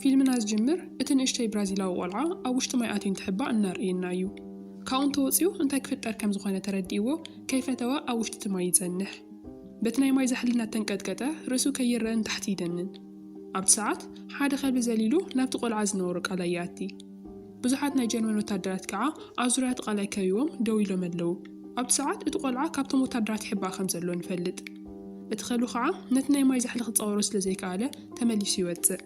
ፊልምና ዝጅምር እቲ ንእሽተይ ብራዚላዊ ቆልዓ ኣብ ውሽጢ ማይ ኣትዩ እንትሕባእ እናርእየና እዩ። ካብኡ እንተወጺኡ እንታይ ክፍጠር ከም ዝኾነ ተረዲእዎ ከይፈተወ ኣብ ውሽጢ እቲ ማይ ይጸንሕ። በቲ ናይ ማይ ዛሕሊ እናተንቀጥቀጠ ርእሱ ከይረኣ ንታሕቲ ይደንን። ኣብቲ ሰዓት ሓደ ከልቢ ዘሊሉ ናብቲ ቆልዓ ዝነበሮ ቃላይ ይኣቲ። ብዙሓት ናይ ጀርመን ወተሃደራት ከኣ ኣብ ዙርያ እቲ ቐላይ ከቢቦም ደው ኢሎም ኣለዉ። ኣብቲ ሰዓት እቲ ቈልዓ ካብቶም ወተሃደራት ይሕባእ ከም ዘሎ ንፈልጥ። እቲ ከልቢ ኸኣ ነቲ ናይ ማይ ዛሕሊ ክጻወሮ ስለ ዘይከኣለ ተመሊሱ ይወጽእ።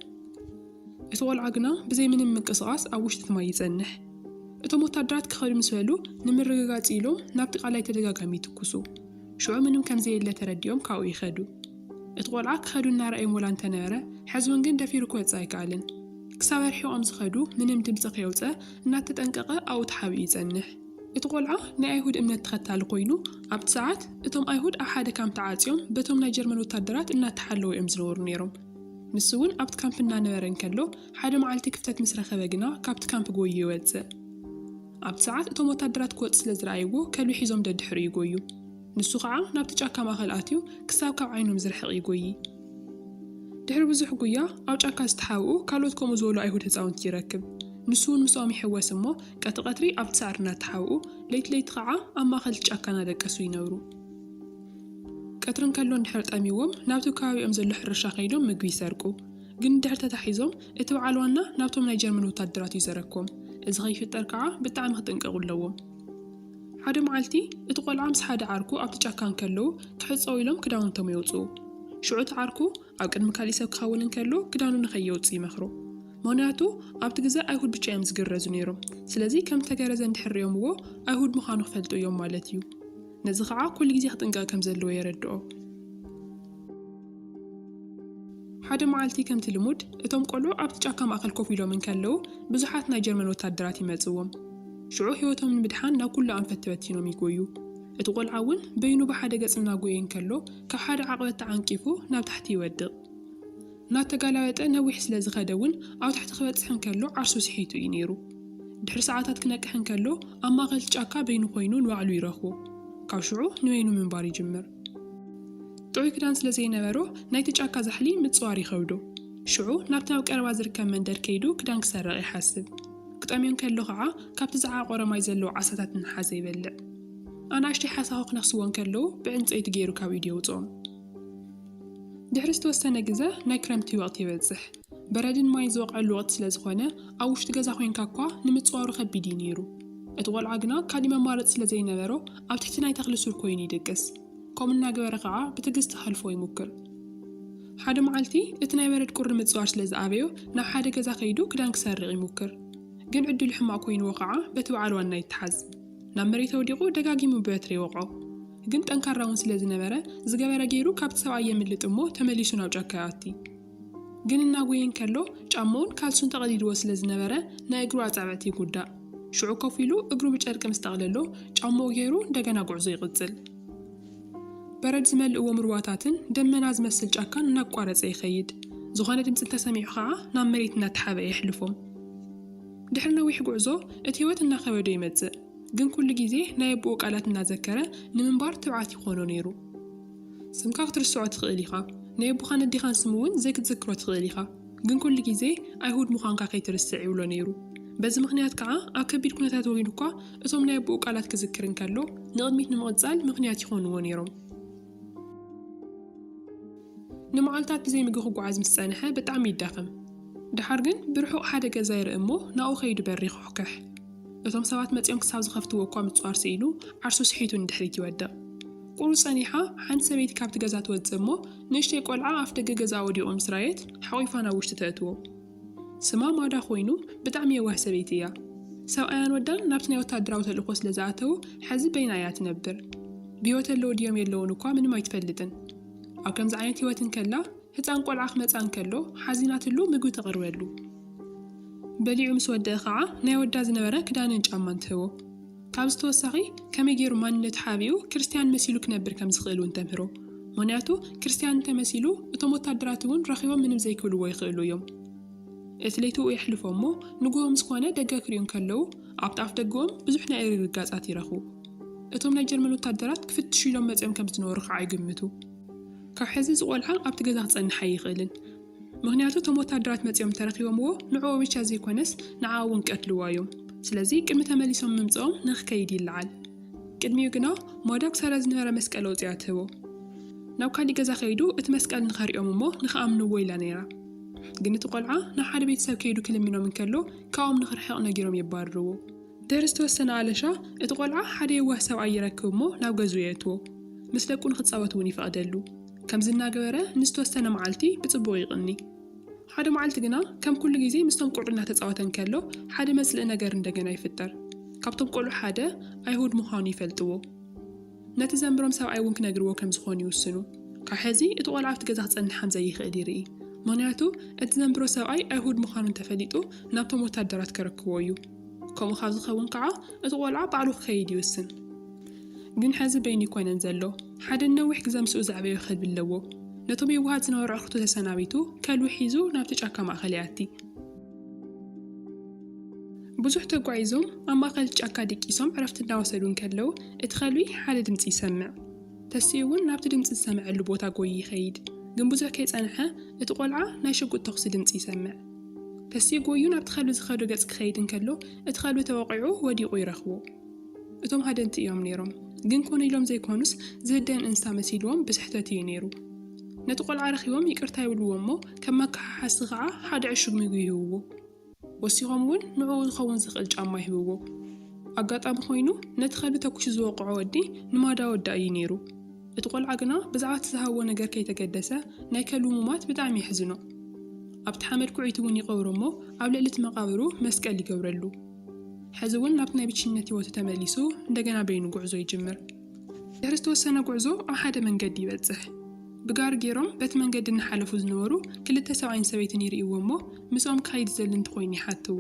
እቲ ቈልዓ ግና ብዘይ ምንም ምንቅስቓስ ኣብ ውሽጢ እቲ ማይ ይጸንሕ። እቶም ወተሃደራት ክኸዱ ምስ በሉ ንምርግጋጽ ኢሎም ናብቲ ቐላይ ተደጋጋሚ ይትኩሱ። ሽዑ ምንም ከም ዘየለ ተረዲኦም ካብኡ ይኸዱ። እቲ ቆልዓ ክኸዱ እናረኣዮም ወላ እንተነበረ ሕዝውን ግን ደፊሩ ክወጽእ ኣይከኣልን። ክሳብ ኣርሒቖም ዝኸዱ ምንም ድምጺ ከየውጸ እናተጠንቀቐ ኣብኡ ተሓቢኡ ይጸንሕ። እቲ ቆልዓ ናይ ኣይሁድ እምነት ተኸታሊ ኮይኑ ኣብቲ ሰዓት እቶም ኣይሁድ ኣብ ሓደ ካምፕ ተዓጽዮም በቶም ናይ ጀርመን ወታደራት እናተሓለዉ እዮም ዝነበሩ ነይሮም። ንሱ እውን ኣብቲ ካምፕ እናነበረ እንከሎ ሓደ መዓልቲ ክፍተት ምስ ረኸበ ግና ካብቲ ካምፕ ጎዩ ይወጽእ። ኣብቲ ሰዓት እቶም ወታደራት ክወጽእ ስለ ዝረኣይዎ ከልቢ ሒዞም ደድሕሪኡ ይጎዩ። ንሱ ኸዓ ናብቲ ጫካ ማእከል ኣትዩ ክሳብ ካብ ዓይኖም ዝርሕቕ ይጎዪ። ድሕሪ ብዙሕ ጉያ ኣብ ጫካ ዝተሓብኡ ካልኦት ከምኡ ዝበሉ ኣይሁድ ህጻውንቲ ይረክብ። ንሱ እውን ምስኦም ይሕወስ እሞ ቀቲ ቀትሪ ኣብቲ ሳዕሪ እናተሓብኡ ለይቲ ለይቲ ኸዓ ኣብ ማእከል እቲ ጫካ እናደቀሱ ይነብሩ። ቀትሪ እንከሎ እንድሕር ጠምይዎም ናብቲ ከባቢኦም ዘሎ ሕርሻ ከይዶም ምግቢ ይሰርቁ። ግን እንድሕር ተታሒዞም እቲ በዓል ዋና ናብቶም ናይ ጀርመን ወታደራት እዩ ዘረኮም። እዚ ከይፍጠር ከኣ ብጣዕሚ ክጥንቀቑ ኣለዎም። ሓደ መዓልቲ እቲ ቆልዓ ምስ ሓደ ዓርኩ ኣብቲ ጫካ እንከለዉ ክሕጸዉ ኢሎም ክዳውንቶም የውጽኡ። ሽዑ እቲ ዓርኩ ኣብ ቅድሚ ካሊእ ሰብ ክኸውን እንከሎ ክዳኑ ንከየውጽእ ይመኽሮ። ምኽንያቱ ኣብቲ ግዘ ኣይሁድ ብቻ እዮም ዝግረዙ ነይሮም። ስለዚ ከም ዝተገረዘ እንድሕር ሪኦምዎ ኣይሁድ ምኻኑ ክፈልጡ እዮም ማለት እዩ። ነዚ ከኣ ኩሉ ግዜ ክጥንቀቕ ከም ዘለዎ የረድኦ። ሓደ መዓልቲ ከምቲ ልሙድ፣ እቶም ቈልዑ ኣብቲ ጫካ ማእከል ኮፍ ኢሎም እንከለዉ፣ ብዙሓት ናይ ጀርመን ወተሃደራት ይመጽእዎም። ሽዑ ህይወቶም ንምድሓን ናብ ኵሉ ኣንፈት ተበቲኖም ይጐዩ። እቲ ቈልዓ እውን በይኑ ብሓደ ገጽ እናጐየ እንከሎ፣ ካብ ሓደ ዓቕበት ተዓንቂፉ ናብ ታሕቲ ይወድቕ። እናተጋላበጠ ነዊሕ ስለ ዝኸደ እውን ኣብ ታሕቲ ክበጽሕ እንከሎ ዓርሱ ስሒቱ እዩ ነይሩ። ድሕሪ ሰዓታት ክነቅሕ እንከሎ ኣብ ማእከል እቲ ጫካ በይኑ ኰይኑ ንባዕሉ ይረኽቦ። ካብ ሽዑ ንበይኑ ምንባር ይጅምር። ጥዑይ ክዳን ስለ ዘይነበሮ፣ ናይቲ ጫካ ዛሕሊ ምጽዋር ይኸብዶ። ሽዑ ናብቲ ኣብ ቀረባ ዝርከብ መንደር ከይዱ ክዳን ክሰርቕ ይሓስብ። ክጠምዮ እንከሎ ኸኣ ካብቲ ዝዓቖረ ማይ ዘለዎ ዓሳታት እናሓዘ ይበልዕ። ኣናእሽተይ ሓሳኹ ክነኽስዎ እንከለዉ ብዕንጸይቲ ገይሩ ካብ ኢዱ የውጽኦም። ድሕሪ ዝተወሰነ ግዘ ናይ ክረምቲ ወቕቲ ይበጽሕ። በረድን ማይን ዝወቕዐሉ ወቕቲ ስለ ዝኾነ ኣብ ውሽጢ ገዛ ኮይንካ እኳ ንምጽዋሩ ከቢድ እዩ ነይሩ። እቲ ቆልዓ ግና ካልእ መማረጺ ስለ ዘይነበሮ ኣብ ትሕቲ ናይ ተኽሊ ሱር ኰይኑ ይድቅስ፣ ከምኡ እናገበረ ኸኣ ብትግስቲ ኼሕልፎ ይሙክር። ሓደ መዓልቲ፣ እቲ ናይ በረድ ቍሪ ምጽዋር ስለ ዝኣበዮ፣ ናብ ሓደ ገዛ ኸይዱ ክዳን ኪሰርቕ ይሙክር። ግን ዕድሉ ሕማቕ ኰይንዎ ኸኣ በቲ በዓል ዋና ይተሓዝ። ናብ መሬት ኣውዲቑ ደጋጊሙ ብበትሪ ይወቕዖ። ግን ጠንካራ'ውን ስለ ዝነበረ፣ ዝገበረ ገይሩ ካብቲ ሰብኣይ የምልጥ እሞ ተመሊሱ ናብ ጫካ ይኣቲ። ግን እናጎየ እንከሎ ጫማኡን ካልሱን ተቐዲድዎ ስለ ዝነበረ ናይ እግሩ ኣጻብዕቲ ይጉዳእ። ሽዑ ኮፍ ኢሉ እግሩ ብጨርቂ ምስ ጠቕለሎ ጫማኡ ገይሩ እንደገና ጉዕዞ ይቕጽል። በረድ ዝመልእዎም ሩባታትን ደመና ዝመስል ጫካን እናቋረጸ ይኸይድ። ዝኾነ ድምጺ እንተሰሚዑ ኸኣ ናብ መሬት እናተሓብአ የሕልፎም። ድሕሪ ነዊሕ ጉዕዞ እቲ ህይወት እናኸበዶ ይመጽእ። ግን ኩሉ ግዜ ናይ ኣቦኡ ቃላት እናዘከረ ንምንባር ትብዓት ይኾኖ ነይሩ። ስምካ ክትርስዖ ትኽእል ኢኻ፣ ናይ ኣቦኻን ኣዴኻን ስም እውን ዘይክትዝክሮ ትኽእል ኢኻ፣ ግን ኵሉ ግዜ ኣይሁድ ምዃንካ ከይትርስዕ ይብሎ ነይሩ። በዚ ምኽንያት ከኣ ኣብ ከቢድ ኵነታት ወይኑ እኳ እቶም ናይ ኣቦኡ ቃላት ክዝክር እንከሎ ንቕድሚት ንምቕጻል ምኽንያት ይዀንዎ ነይሮም። ንመዓልታት ብዘይ ምግቢ ክጓዓዝ ምስ ጸንሐ ብጣዕሚ ይዳኸም። ደሓር ግን ብርሑቕ ሓደ ገዛ ይርኢ እሞ ናብኡ ከይዱ በሪ ይዅሕኵሕ። እቶም ሰባት መጺኦም ክሳብ ዝኸፍትዎ እኳ ምጽዋር ስኢኑ ዓርሱ ስሒቱ ንድሕሪት ይወድቕ። ኣብኡ ጸኒሓ ሓንቲ ሰበይቲ ካብቲ ገዛ ትወጽእ እሞ ንእሽተይ ቆልዓ ኣፍደገ ገዛኣ ወዲቑ ምስ ረኣየት ሓቒፋ ናብ ውሽጢ ተእትዎ። ስማ ማዳ ኮይኑ ብጣዕሚ የዋህ ሰበይቲ እያ። ሰብኣያን ወዳን ናብቲ ናይ ወታደራዊ ተልእኾ ስለ ዝኣተዉ ሐዚ በይና እያ ትነብር። ብህይወት ኣለዉ ድዮም የለዉን እኳ ምንም ኣይትፈልጥን። ኣብ ከምዚ ዓይነት ህይወት እንከላ ህጻን ቆልዓ ክመጽኣ እንከሎ ሓዚናትሉ ምግቢ ተቕርበሉ። በሊዑ ምስ ወደእ ኸዓ ናይ ወዳ ዝነበረ ክዳንን ጫማን ትህቦ። ካብዚ ተወሳኺ ከመይ ገይሩ ማንነቱ ሓቢኡ ክርስትያን መሲሉ ክነብር ከም ዝኽእል እውን ተምህሮ። ምኽንያቱ ክርስትያን እንተ መሲሉ እቶም ወታደራት እውን ረኺቦም ምንም ዘይክብልዎ ይኽእሉ እዮም። እቲ ለይቲኡ የሕልፎ እሞ ንግሆ ምስ ኮነ ደገ ክሪኡ እንከለዉ ኣብቲ ኣፍ ደገኦም ብዙሕ ናይ እግሪ ርጋጻት ይረኽቡ። እቶም ናይ ጀርመን ወታደራት ክፍትሹ ኢሎም መጺኦም ከም ዝነበሩ ከኣ ይግምቱ። ካብ ሕዚ እዚ ቆልዓ ኣብቲ ገዛ ክጸንሕ ኣይኽእልን። ምኽንያቱ እቶም ወታደራት መጺኦም እንተረኺቦምዎ ንዕኡ ብቻ ዘይኮነስ ንዓኣ እውን ክቀትልዋ እዮም። ስለዚ ቅድሚ ተመሊሶም ምምጽኦም ንኽከይድ ይለዓል። ቅድሚኡ ግና ማዶክ ሳራ ዝነበረ መስቀል ኣውጺኣ ትህቦ። ናብ ካሊእ ገዛ ከይዱ እቲ መስቀል ንኸርእዮም እሞ ንኽኣምንዎ ኢላ ነይራ። ግን እቲ ቆልዓ ናብ ሓደ ቤተሰብ ከይዱ ክልምኖም እንከሎ ካብኦም ንኽርሕቕ ነጊሮም የባርርዎ። ድሕሪ ዝተወሰነ ኣለሻ እቲ ቆልዓ ሓደ የዋህ ሰብኣይ ይረክብ እሞ ናብ ገዝኡ የእትዎ። ምስ ደቁ ንኽጻወት እውን ይፈቕደሉ። ከምዚ እናገበረ ንዝተወሰነ መዓልቲ ብጽቡቕ ይቕኒ። ሓደ መዓልቲ ግና ከም ኩሉ ግዜ ምስቶም ቆልዑ እናተጻወተ እንከሎ ሓደ መጽልኢ ነገር እንደገና ይፍጠር። ካብቶም ቆልዑ ሓደ ኣይሁድ ምዃኑ ይፈልጥዎ። ነቲ ዘንብሮም ሰብኣይ እውን ክነግርዎ ከም ዝኾኑ ይውስኑ። ካብ ሕዚ እቲ ቆልዓ ኣብቲ ገዛ ክጸንሕ ከም ዘይኽእል ይርኢ። ምኽንያቱ እቲ ዘንብሮ ሰብኣይ ኣይሁድ ምዃኑ እንተፈሊጡ ናብቶም ወታደራት ከረክቦ እዩ። ከምኡ ካብ ዝኸውን ከዓ እቲ ቆልዓ ባዕሉ ክኸይድ ይውስን። ግን ሕዚ በይኑ ኣይኮነን ዘሎ። ሓደ ንነዊሕ ግዘ ምስኡ ዘዕበዮ ከልቢ ኣለዎ። ነቶም የዋሃት ዝነበሩ ኣዕሩኽቱ ተሰናቢቱ፣ ከልቢ ሒዙ ናብቲ ጫካ ማእከል ይኣቲ። ብዙሕ ተጓዒዞም ኣብ ማእከል እቲ ጫካ ድቂሶም ዕረፍቲ እናወሰዱ እንከለዉ፣ እቲ ከልቢ ሓደ ድምጺ ይሰምዕ። ተሲኡ እውን ናብቲ ድምጺ ዝሰምዐሉ ቦታ ጎይዩ ይኸይድ። ግን ብዙሕ ከይጸንሐ እቲ ቆልዓ ናይ ሽጉጥ ተኹሲ ድምጺ ይሰምዕ። ተሲኡ ጎይዩ ናብቲ ከልቢ ዝኸዶ ገጽ ክኸይድ እንከሎ፣ እቲ ከልቢ ተወቒዑ ወዲቑ ይረኽቦ። እቶም ሃደንቲ እዮም ነይሮም። ግን ኮነ ኢሎም ዘይኮኑስ ዝህደን እንስሳ መሲልዎም ብስሕተት እዩ ነይሩ። ነቲ ቆልዓ ረኺቦም ይቅርታ ይብልዎ እሞ ከም መከሓሓሲ ከዓ ሓደ ዕሹግ ምግቢ ይህብዎ። ወሲኾም እውን ንዕኡ ዝኸውን ዝኽእል ጫማ ይህብዎ። ኣጋጣሚ ኮይኑ ነቲ ከልቢ ተኩሱ ዝወቅዖ ወዲ ንማዳ ወዳ እዩ ነይሩ። እቲ ቆልዓ ግና ብዛዕባ እቲ ዝሃብዎ ነገር ከይተገደሰ ናይ ከልቡ ሙማት ብጣዕሚ የሕዝኖ። ኣብቲ ሓመድ ኩዒቱ እውን ይቀብሮ እሞ ኣብ ልዕሊ እቲ መቃብሩ መስቀል ይገብረሉ። ሕዚ እውን ናብቲ ናይ ብቸኝነት ህይወቱ ተመሊሱ እንደገና በይኑ ጉዕዞ ይጅምር። ድሕሪ ዝተወሰነ ጉዕዞ ኣብ ሓደ መንገዲ ይበጽሕ። ብጋሪ ገይሮም በቲ መንገዲ እናሓለፉ ዝነበሩ ክልተ ሰብኣይን ሰበይትን ይርእይዎ እሞ ምስኦም ክኸይድ ዝደሊ እንተኾይኑ ይሓትዎ።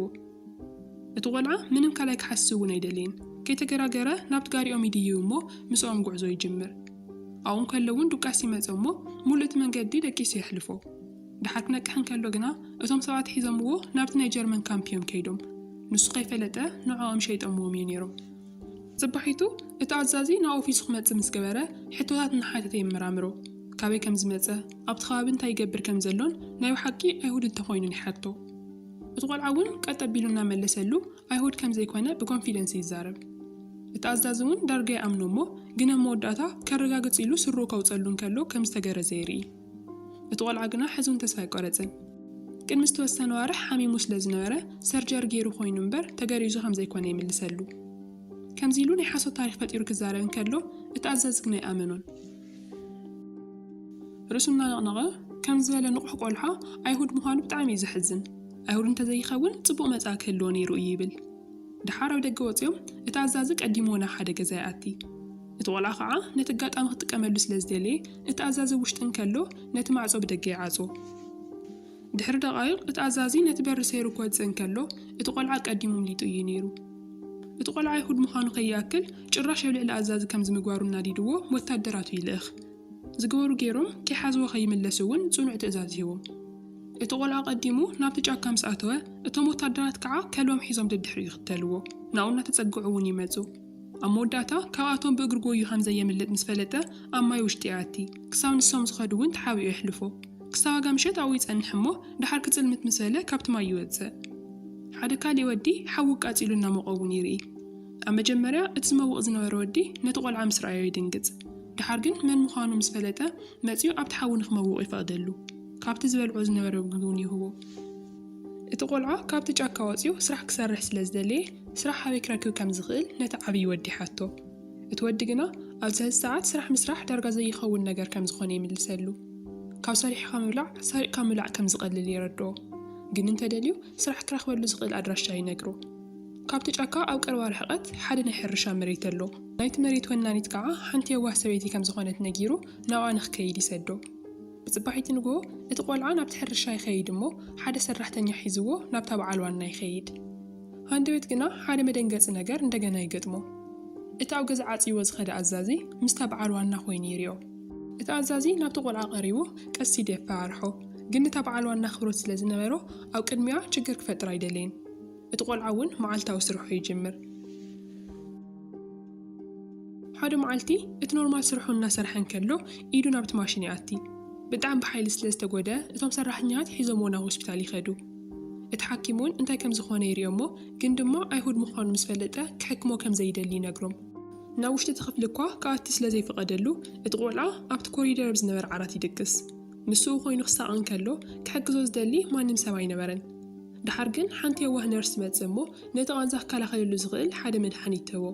እቲ ቆልዓ ምንም ካልኣይ ክሓስብ እውን ኣይደለየን። ከይተገራገረ ናብቲ ጋሪኦም ይድይብ እሞ ምስኦም ጉዕዞ ይጅምር። ኣብኡ እንከሎ እውን ዱቃስ ይመጾ እሞ ምሉእ እቲ መንገዲ ደቂሱ የሕልፎ። ድሓር ክነቅሕ እንከሎ ግና እቶም ሰባት ሒዞምዎ ናብቲ ናይ ጀርመን ካምፕ እዮም ከይዶም። ንሱ ከይፈለጠ ንዕኦም ሸይጠምዎም እዩ ነይሩ። ጽባሒቱ እቲ ኣዛዚ ናብ ኦፊሱ ክመጽእ ምስ ገበረ ሕቶታት እናሓተተ የመራምሮ። ካበይ ከም ዝመጸ፣ ኣብቲ ከባቢ እንታይ ይገብር ከም ዘሎን ናይ ብሓቂ ኣይሁድ እንተ ኾይኑን ይሓቶ። እቲ ቆልዓ እውን ቀጥ ኣቢሉ እናመለሰሉ ኣይሁድ ከም ዘይኮነ ብኮንፊደንስ ይዛረብ። እቲ ኣዛዚ እውን ዳርጋ ይኣምኖ እሞ ግን ኣብ መወዳእታ ከረጋግጽ ኢሉ ስርኡ ከውጸሉ እንከሎ ከም ዝተገረዘ የርኢ። እቲ ቆልዓ ግና ሕዙን ተስፋ ኣይቆረጸን። ቅድሚ ዝተወሰነ ኣዋርሕ ሓሚሙ ስለ ዝነበረ ሰርጀሪ ገይሩ ኮይኑ እምበር ተገሪዙ ከም ዘይኮነ ይምልሰሉ። ከምዚ ኢሉ ናይ ሓሶት ታሪኽ ፈጢሩ ክዛረብ እንከሎ እቲ ኣዛዚ ግና ኣይኣመኖን። ርእሱ እናነቕነቐ ከምዚ ዝበለ ንቑሕ ቆልዓ ኣይሁድ ምዃኑ ብጣዕሚ እዩ ዘሕዝን። ኣይሁድ እንተዘይኸውን ጽቡቕ መጻኢ ክህልዎ ነይሩ እዩ ይብል። ደሓር ኣብ ደገ ወጺኦም እቲ ኣዛዚ ቀዲሙ ወላ ሓደ ገዛ ይኣቲ። እቲ ቆልዓ ከኣ ነቲ ኣጋጣሚ ክጥቀመሉ ስለ ዝደለየ፣ እቲ ኣዛዚ ኣብ ውሽጢ እንከሎ ነቲ ማዕጾ ብደገ ይዓጽዎ። ድሕሪ ደቓይቕ እቲ ኣዛዚ ነቲ በሪ ሰይሩ ክወጽእ እንከሎ፣ እቲ ቆልዓ ቀዲሙ ኣምሊጡ ኢዩ ነይሩ። እቲ ቆልዓ ኣይሁድ ምዃኑ ከይኣክል፣ ጭራሽ ኣብ ልዕሊ ኣዛዚ ከምዚ ምግባሩ ኣናዲድዎ ወታደራቱ ይልእኽ። ዝገበሩ ገይሮም ከይሓዝዎ ከይምለሱ እውን ጽኑዕ ትእዛዝ ሂቦም። እቲ ቆልዓ ቀዲሙ ናብቲ ጫካ ምስ ኣተወ፣ እቶም ወታደራት ከኣ ከልቦም ሒዞም ደድሕሪኡ ይኽተልዎ፣ ናብኡ እናተጸግዑ እውን ይመጹ። ኣብ መወዳእታ ካብኣቶም ብእግሪ ጎዩ ከም ዘየምልጥ ምስ ፈለጠ ኣብ ማይ ውሽጢ ይኣቲ። ክሳብ ንሶም ዝኸዱ እውን ተሓቢኡ የሕልፎ። ክሳብ ኣጋምሸት ኣብኡ ይጸንሕ እሞ ደሓር ክጽልምት ምስ በለ ካብቲ ማይ ይወጽእ። ሓደ ካሊእ ወዲ ሓዊ ኣቃጺሉ እናሞቐ እውን ይርኢ። ኣብ መጀመርያ እቲ ዝመውቕ ዝነበረ ወዲ ነቲ ቆልዓ ምስ ረኣዮ ይድንግጽ። ደሓር ግን መን ምዃኑ ምስ ፈለጠ መጺኡ ኣብቲ ሓዊ ንክመውቕ ይፈቕደሉ። ካብቲ ዝበልዖ ዝነበረ ምግቢ እውን ይህቦ። እቲ ቆልዓ ካብቲ ጫካ ወጺኡ ስራሕ ክሰርሕ ስለ ዝደለየ፣ ስራሕ ኣበይ ክረክብ ከም ዝኽእል ነቲ ዓብዪ ወዲ ይሓቶ። እቲ ወዲ ግና ኣብዚ ሐዚ ሰዓት ስራሕ ምስራሕ ዳርጋ ዘይኸውን ነገር ከም ዝኾነ ይምልሰሉ። ካብ ሰሪሕኻ ምብላዕ ሰሪቕካ ምብላዕ ከም ዝቐልል የረድኦ። ግን እንተደልዩ ስራሕ ክረኽበሉ ዝኽእል ኣድራሻ ይነግሮ። ካብቲ ጫካ ኣብ ቀረባ ርሕቐት ሓደ ናይ ሕርሻ መሬት ኣሎ። ናይቲ መሬት ወናኒት ከዓ ሓንቲ የዋህ ሰበይቲ ከም ዝኾነት ነጊሩ ናብኣ ንክከይድ ይሰዶ። ብጽባሒቲ ንግሆ እቲ ቆልዓ ናብቲ ሕርሻ ይኸይድ እሞ ሓደ ሰራሕተኛ ሒዝዎ ናብታ በዓል ዋና ይኸይድ። ሃንደበት ግና ሓደ መደንገጺ ነገር እንደገና ይገጥሞ። እቲ ኣብ ገዛ ዓጽይዎ ዝኸደ ኣዛዚ ምስታ በዓል ዋና ኮይኑ ይሪኦ። እቲ ኣዛዚ ናብቲ ቆልዓ ቀሪቡ ቀስ ኢሉ የፈራርሖ። ግን እታ በዓል ዋና ኣኽብሮት ስለ ዝነበሮ ኣብ ቅድሚኣ ችግር ክፈጥር ኣይደለየን። እቲ ቆልዓ እውን መዓልታዊ ስርሑ ይጅምር። ሓደ መዓልቲ እቲ ኖርማል ስርሑ እናሰርሐ እንከሎ ኢዱ ናብቲ ማሽን ይኣቲ። ብጣዕሚ ብሓይሊ ስለ ዝተጎድኣ እቶም ሰራሕተኛታት ሒዞምዎ ናብ ሆስፒታል ይኸዱ። እቲ ሓኪም እውን እንታይ ከም ዝኾነ ይሪኦ'ሞ ግን ድማ ኣይሁድ ምዃኑ ምስ ፈለጠ ክሕክሞ ከም ዘይደሊ ይነግሮም። ናብ ውሽጢ እቲ ክፍሊ እኳ ክኣቲ ስለ ዘይፍቐደሉ እቲ ቆልዓ ኣብቲ ኮሪደር ኣብ ዝነበረ ዓራት ይድቅስ። ምስኡ ኮይኑ ክሳቐ እንከሎ ክሕግዞ ዝደሊ ማንም ሰብ ኣይነበረን። ደሓር ግን ሓንቲ የዋህ ነርስ ትመጽእ እሞ ነቲ ቓንዛ ክከላኸለሉ ዝኽእል ሓደ መድሓኒት ትህቦ።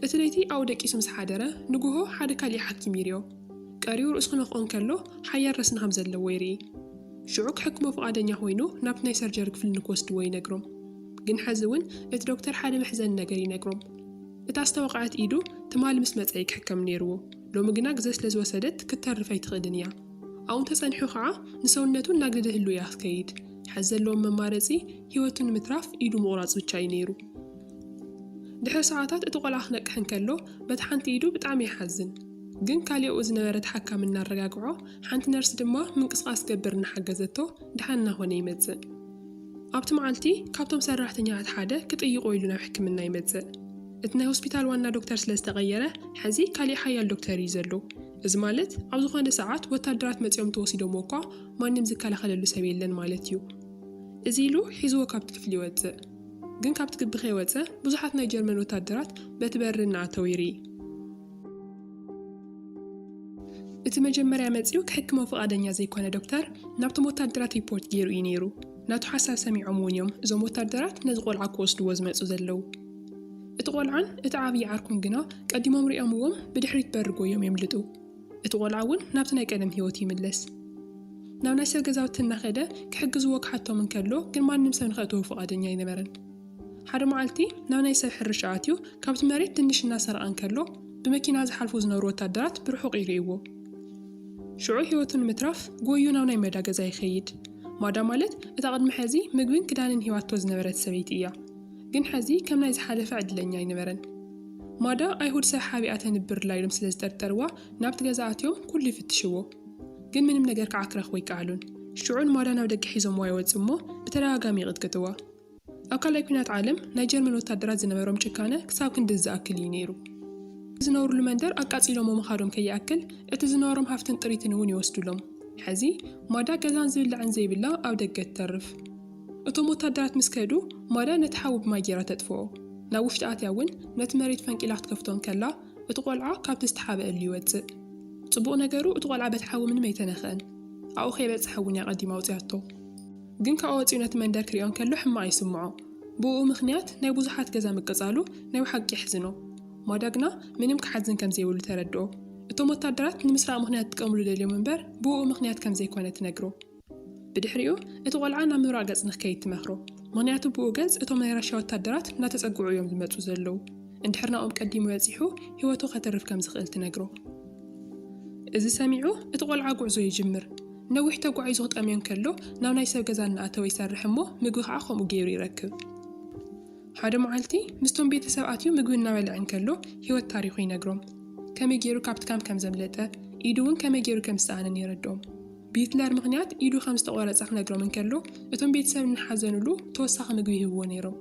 እቲ ለይቲ ኣብኡ ደቂሱ ምስ ሓደረ፣ ንግሆ ሓደ ካልእ ሓኪም ይርዮ። ቀሪቡ ርእሱ ክነኽኦ እንከሎ ሓያል ረስኒ ከም ዘለዎ ይርኢ። ሽዑ ክሕክሞ ፍቓደኛ ኮይኑ ናብቲ ናይ ሰርጀሪ ክፍሊ ንክወስድዎ ይነግሮም። ግን ሕዚ እውን እቲ ዶክተር ሓደ መሕዘኒ ነገር ይነግሮም። እታ ዝተወቕዐት ኢዱ ትማሊ ምስ መጸ እዩ ክሕከም ነይርዎ። ሎሚ ግና ግዘ ስለ ዝወሰደት ክትተርፍ ኣይትኽእልን እያ። ኣብኡ ተጸኒሑ ከኣ ንሰውነቱ እናግደደ ህልው እያ ክትከይድ። ሕዚ ዘለዎም መማረጺ ህይወቱ ንምትራፍ ኢዱ ምቑራጽ ብቻ እዩ ነይሩ። ድሕሪ ሰዓታት እቲ ቆልዓ ክነቅሕ እንከሎ በታ ሓንቲ ኢዱ ብጣዕሚ ይሓዝን። ግን ካሊኣኡ ዝነበረ እቲ ሓካሚ እናረጋግዖ ሓንቲ ነርስ ድማ ምንቅስቓስ ክገብር እናሓገዘቶ ደሓን እናኾነ ይመጽእ። ኣብቲ መዓልቲ ካብቶም ሰራሕተኛታት ሓደ ክጥይቖ ኢሉ ናብ ሕክምና ይመጽእ። እቲ ናይ ሆስፒታል ዋና ዶክተር ስለዝተቐየረ ሕዚ ካሊእ ሓያል ዶክተር እዩ ዘሎ። እዚ ማለት ኣብ ዝኾነ ሰዓት ወታደራት መጺኦም እንተወሲዶምዎ እኳ ማንም ዝከላኸለሉ ሰብ የለን ማለት እዩ። እዚ ኢሉ ሒዝዎ ካብቲ ክፍሊ ይወጽእ። ግን ካብቲ ግቢ ከይወጸ ብዙሓት ናይ ጀርመን ወታደራት በቲ በሪ እናኣተው ይርኢ። እቲ መጀመርያ መጺኡ ክሕክሞ ፍቓደኛ ዘይኮነ ዶክተር ናብቶም ወታደራት ሪፖርት ገይሩ እዩ ነይሩ። ናቱ ሓሳብ ሰሚዖም እውን እዮም እዞም ወታደራት ነዚ ቆልዓ ክወስድዎ ዝመጹ ዘለው። እቲ ቈልዓን እቲ ዓብዪ ዓርኩን ግና ቀዲሞም ሪኦምዎም ብድሕሪት በሪ ጎዮም የምልጡ። እቲ ቈልዓ እውን ናብቲ ናይ ቀደም ህይወቱ ይምለስ። ናብ ናይ ሰብ ገዛውቲ እናኸደ ክሕግዝዎ ክሓቶም እንከሎ ግን ማንም ሰብ ንኸእትዎ ፍቓደኛ ኣይነበረን። ሓደ መዓልቲ ናብ ናይ ሰብ ሕርሻ ኣትዩ ካብቲ መሬት ድንሽ እናሰረቐ እንከሎ ብመኪና ዝሓልፉ ዝነበሩ ወታደራት ብርሑቕ ይርእይዎ። ሽዑ ህይወቱ ንምትራፍ ጎዩ ናብ ናይ መዳ ገዛ ይኸይድ። ማዳ ማለት እታ ቅድሚ ሕዚ ምግብን ክዳንን ሂባቶ ዝነበረት ሰበይቲ እያ። ግን ሐዚ ከም ናይ ዝሓለፈ ዕድለኛ ኣይነበረን። ማዳ ኣይሁድ ሰብ ሓቢኣ ተንብርላ ኢሎም ስለ ዝጠርጠርዋ ናብቲ ገዛ ኣትዮም ኩሉ ይፍትሽዎ ግን ምንም ነገር ከዓ ክረኽቡ ኣይከኣሉን። ሽዑ ንማዳ ናብ ደገ ሒዞምዋ ይወፅኡ እሞ ብተደጋጋሚ ይቕጥቅጥዋ። ኣብ ካልኣይ ኲናት ዓለም ናይ ጀርመን ወታደራት ዝነበሮም ጭካነ ክሳብ ክንድዚ ዝኣክል እዩ ነይሩ። እቲ ዝነብርሉ መንደር ኣቃፂሎሞ ምኻዶም ከይኣክል እቲ ዝነበሮም ሃፍትን ጥሪትን እውን ይወስዱሎም። ሐዚ ማዳ ገዛን ዝብላዕን ዘይብላ ኣብ ደገ ትተርፍ። እቶም ወታደራት ምስ ከዱ፣ ማርያ ነቲ ሓዊ ብማይ ገይራ ተጥፍኦ። ናብ ውሽጢ ኣትያ እውን ነቲ መሬት ፈንቂላ ክትከፍቶ እንከላ፣ እቲ ቈልዓ ካብቲ ዝተሓብእሉ ይወጽእ። ጽቡቕ ነገሩ እቲ ቈልዓ በቲ ሓዊ ምንም ኣይተነኽአን። ኣብኡ ከይበጽሐ እውን እያ ኣቐዲማ ኣውጺኣቶ። ግን ካብኡ ወጺኡ ነቲ መንደር ክርእዮ እንከሎ ሕማቕ ይስምዖ። ብእኡ ምኽንያት ናይ ብዙሓት ገዛ ምቅጻሉ ናይ ብሓቂ የሕዝኖ። ማርያ ግና ምንም ክሓዝን ከም ዘይብሉ ተረድኦ። እቶም ወታደራት ንምስራቕ ምኽንያት ክጥቀምሉ ደልዮም እምበር ብእኡ ምኽንያት ከም ዘይኰነ ትነግሮ። ብድሕሪኡ እቲ ቆልዓ ናብ ምብራቕ ገፅ ንክከይድ ትመክሮ ምክንያቱ ብኡ ገፅ እቶም ናይ ራሻ ወታደራት እናተፀግዑ እዮም ዝመፁ ዘለው እንድሕር ናብኦም ቀዲሙ በፂሑ ሂወቱ ከትርፍ ከም ዝክእል ትነግሮ እዚ ሰሚዑ እቲ ቆልዓ ጉዕዞ ይጅምር ነዊሕ ተጓዒዙ ክጠምዮ እንከሎ ናብ ናይ ሰብ ገዛ እናኣተወ ይሰርሕ እሞ ምግቢ ከዓ ከምኡ ገይሩ ይረክብ ሓደ መዓልቲ ምስቶም ቤተሰብ ኣትዩ ምግቢ እናበልዐ እንከሎ ሂወት ታሪኩ ይነግሮም ከመይ ገይሩ ካብቲ ካም ከም ዘምለጠ ኢዱ እውን ከመይ ገይሩ ከም ዝሰኣነን የረድኦም ብሂትለር ምኽንያት ኢዱ ከም ዝተቖረጸ ክነግሮም እንከሎ፣ እቶም ቤተሰብ እናሓዘኑሉ ተወሳኺ ምግቢ ይህብዎ ነይሮም።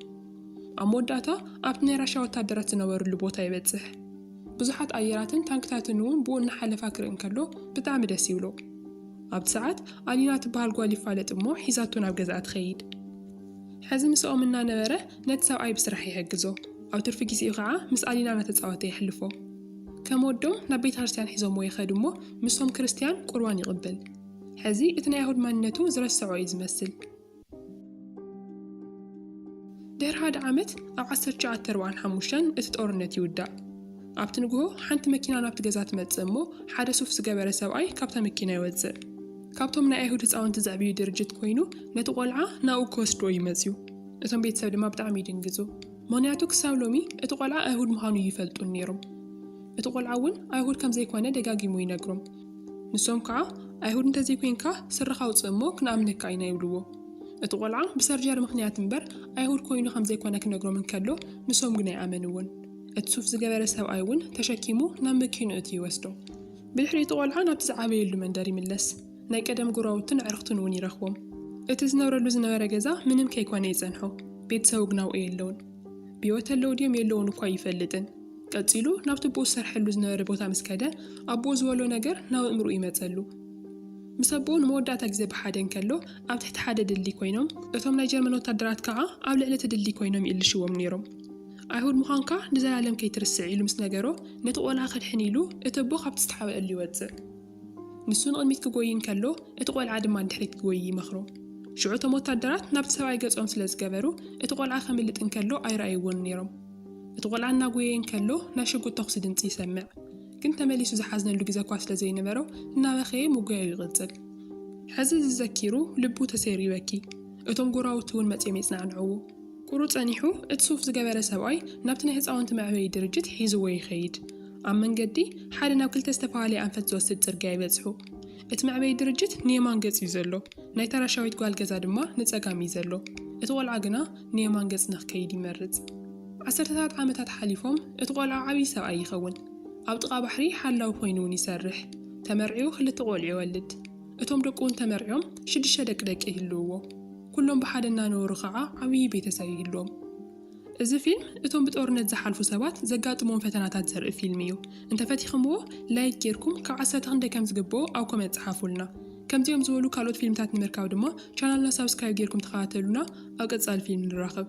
ኣብ መወዳእታ ኣብቲ ናይ ራሻ ወታደራት ዝነበሩሉ ቦታ ይበጽሕ። ብዙሓት ኣየራትን ታንክታትን እውን ብኡ እናሓለፋ ክርኢ እንከሎ ብጣዕሚ ደስ ይብሎ። ኣብቲ ሰዓት ኣሊና ትበሃል ጓል ይፋለጥ እሞ ሒዛቶ ናብ ገዛኣ ትኸይድ። ሕዚ ምስኦም እናነበረ ነቲ ሰብኣይ ብስራሕ ይሕግዞ። ኣብ ትርፊ ግዜኡ ከዓ ምስ ኣሊና እናተጻወተ የሕልፎ። ከም ወዶም ናብ ቤታርስያን ሒዞምዎ ይኸዱ እሞ ምስቶም ክርስትያን ቁርባን ይቕብል። ሕዚ እቲ ናይ ኣይሁድ ማንነቱ ዝረሰዖ እዩ ዝመስል። ድሕሪ ሓደ ዓመት ኣብ ዓሰርተ ትሽዓተ ኣርብዓን ሓሙሽተን እቲ ጦርነት ይውዳእ። ኣብቲ ንግሆ ሓንቲ መኪና ናብቲ ገዛ ትመጽእ እሞ ሓደ ሱፍ ዝገበረ ሰብኣይ ካብታ መኪና ይወጽእ። ካብቶም ናይ ኣይሁድ ህፃውንቲ ዘዕብዩ ድርጅት ኮይኑ ነቲ ቆልዓ ናብኡ ክወስድዎ እዩ መጽዩ። እቶም ቤተሰብ ድማ ብጣዕሚ ይድንግጹ። ሞንያቱ ክሳብ ሎሚ እቲ ቆልዓ ኣይሁድ ምዃኑ እይፈልጡን ነይሮም። እቲ ቆልዓ እውን ኣይሁድ ከም ዘይኮነ ደጋጊሙ ይነግሮም። ንሶም ከዓ ኣይሁድ እንተዘይኮይንካ ስረኻ ኣውፅእ እሞ ክንኣምነካ ኢና ይብልዎ። እቲ ቆልዓ ብሰርጀሪ ምኽንያት እምበር ኣይሁድ ኮይኑ ከም ዘይኮነ ክነግሮም እንከሎ ንሶም ግን ኣይኣመንዎን። እቲ ሱፍ ዝገበረ ሰብኣይ እውን ተሸኪሙ ናብ መኪንኡ እቲ ይወስዶ። ብድሕሪ እቲ ቆልዓ ናብቲ ዝዓበየሉ መንደር ይምለስ። ናይ ቀደም ጎረባብቱን ኣዕርኽቱን እውን ይረኽቦም። እቲ ዝነብረሉ ዝነበረ ገዛ ምንም ከይኮነ ይጸንሖ፣ ቤተሰቡ ግና ኣብኡ የለዉን። ብህይወት ኣለዉ ድዮም የለዉን እኳ ኣይፈልጥን። ቀጺሉ ናብቲ ኣቦኡ ዝሰርሐሉ ዝነበረ ቦታ ምስ ከደ፣ ኣቦኡ ዝበሎ ነገር ናብ ኣእምሮኡ ይመጸሉ። ምስ ኣቦኡ ንመወዳእታ ግዜ ብሓደ እንከሎ፣ ኣብ ትሕቲ ሓደ ድልድል ኰይኖም፣ እቶም ናይ ጀርመን ወተሃደራት ከኣ ኣብ ልዕሊ እቲ ድልድል ኰይኖም ይእልሽዎም ነይሮም። ኣይሁድ ምዃንካ ንዘለኣለም ከይትርስዕ ኢሉ ምስ ነገሮ፣ ነቲ ቈልዓ ከድሕን ኢሉ እቲ ኣቦ ካብቲ ዝተሓብኣሉ ይወጽእ። ንሱ ንቕድሚት ኪጐዪ እንከሎ፣ እቲ ቈልዓ ድማ ንድሕሪት ኪጐዪ ይመኽሮ። ሽዑ እቶም ወተሃደራት ናብቲ ሰብኣይ ገጾም ስለ ዝገበሩ፣ እቲ ቈልዓ ኼምልጥ እንከሎ ኣይረኣይዎን ነይሮም። እቲ ቈልዓ እናጐየየ እንከሎ፣ ናይ ሽጉጥ ተዅሲ ድምጺ ይሰምዕ። ግን ተመሊሱ ዝሓዝነሉ ግዜ እኳ ስለ ዘይነበሮ፣ እናበኸየ ምጕያዩ ይቕጽል። ሕዚ እዚ ዘኪሩ ልቡ ተሰይሩ ይበኪ፣ እቶም ጐረባብቱ እውን መጺኦም የጽናዕንዕዎ። ቍሩብ ጸኒሑ፣ እቲ ሱፍ ዝገበረ ሰብኣይ ናብቲ ናይ ህጻውንቲ መዕበዪ ድርጅት ሒዝዎ ይኸይድ። ኣብ መንገዲ፣ ሓደ ናብ ክልተ ዝተፈላለየ ኣንፈት ዝወስድ ጽርግያ ይበጽሑ። እቲ መዕበዪ ድርጅት ንየማን ገጽ እዩ ዘሎ፣ ናይታ ራሻዊት ጓል ገዛ ድማ ንጸጋም እዩ ዘሎ። እቲ ቈልዓ ግና ንየማን ገጽ ንኽከይድ ይመርጽ። ዓሰርተታት ዓመታት ሓሊፎም፣ እቲ ቈልዓ ዓብዪ ሰብኣይ ይኸውን። ኣብ ጥቓ ባሕሪ ሓላዊ ኰይኑ እውን ይሰርሕ። ተመርዕዩ ክልተ ቈልዑ ይወልድ። እቶም ደቁ እውን ተመርዕዮም ሽዱሽተ ደቂ ደቂ ይህልውዎ። ኩሎም ብሓደ እናነበሩ ከኣ ዓብዪ ቤተሰብ ይህልዎም። እዚ ፊልም እቶም ብጦርነት ዝሓልፉ ሰባት ዘጋጥምዎም ፈተናታት ዘርኢ ፊልም እዩ። እንተፈቲኽምዎ ላይክ ጌርኩም ካብ ዓሰርተ ክንደይ ከም ዝግብኦ ኣብ ኮመንት ጸሓፉልና። ከምዚኦም ዝበሉ ካልኦት ፊልምታት ንምርካብ ድማ ቻናልና ሳብስክራይብ ጌርኩም ተኸታተሉና ኣብ ቀጻሊ ፊልም ንራኸብ።